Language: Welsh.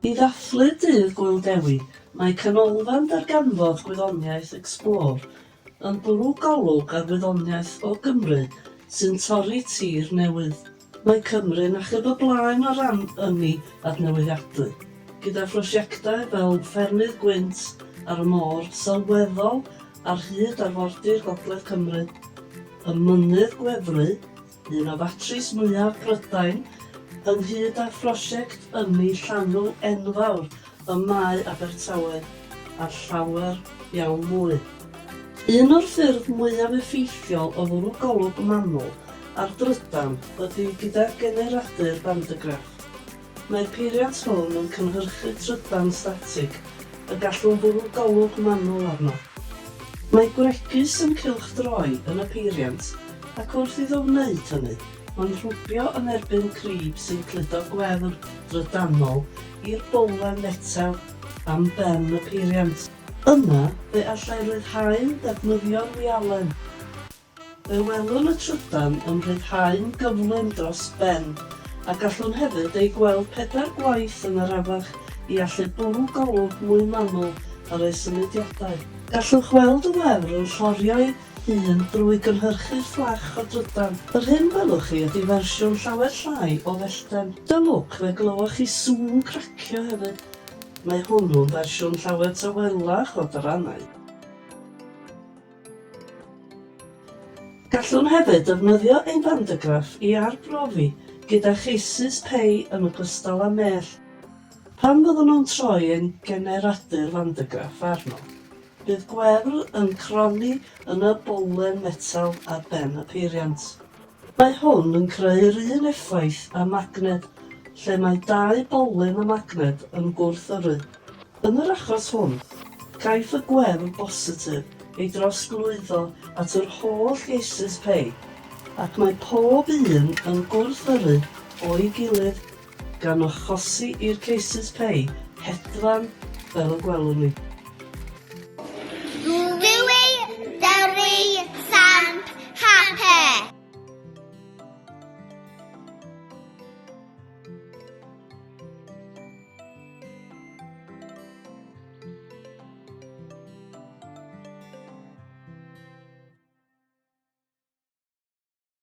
I ddathlu Dydd Gŵyl Dewi, mae Canolfan Darganfod Gwyddoniaeth Explore yn bwrw golwg ar wyddoniaeth o Gymru sy'n torri tir newydd. Mae Cymru'n achub y blaen o ran ynni adnewyddadwy, gyda phrosiectau fel ffermydd gwynt ar y môr sylweddol ar hyd arfordir gogledd Cymru, y Mynydd Gwefru, un o fatris mwyaf Prydain, ynghyd â phrosiect ynni llanw enfawr y mae Abertawe ar llawer iawn mwy. Un o'r ffyrdd mwyaf effeithiol o fwrw golwg manwl ar drydan ydy gyda generadur bandygraff. Mae'r peiriant hwn yn cynhyrchu trydan statig y gallwn fwrw golwg manwl arno. Mae gwregys yn cylchdroi yn y peiriant ac wrth iddo wneud hynny, mae'n rhwbio yn erbyn crib sy'n cludo gwefr drydanol i'r bowlen metel am ben y peiriant. Yna, fe allai ryddhau'n ddefnyddio'r wialen. Fe welwn y trydan yn rhyddhau'n gyflym dros ben, a gallwn hefyd eu gweld pedair gwaith yn arafach i allu bwrw golwg mwy manwl ar eu symudiadau. Gallwch weld y wefr yn llorio'i hun drwy gynhyrchu fflach o drydan. Yr hyn welwch chi ydi fersiwn llawer llai o fellten. Da lwc fe glywch chi sŵn cracio hefyd. Mae hwnnw'n fersiwn llawer tawelach o dyrannau. Gallwn hefyd ddefnyddio ein bandegraff i arbrofi gyda cheisys pei yn ogystal â mell. Pan fyddwn nhw'n troi ein generadur fandegraff arno, Bydd Gwerl yn cronni yn y bowlen metel ar ben y peiriant. Mae hwn yn creu'r un effaith â magned, lle mae dau bowlen a magned yn gwrth-yrru. Yn yr achos hwn, caiff y Gwerl bositif ei drosglwyddo at yr holl geisys pei, ac mae pob un yn gwrth-yrru o'i gilydd gan achosi i'r cases pay hedfan fel y gwelwn ni.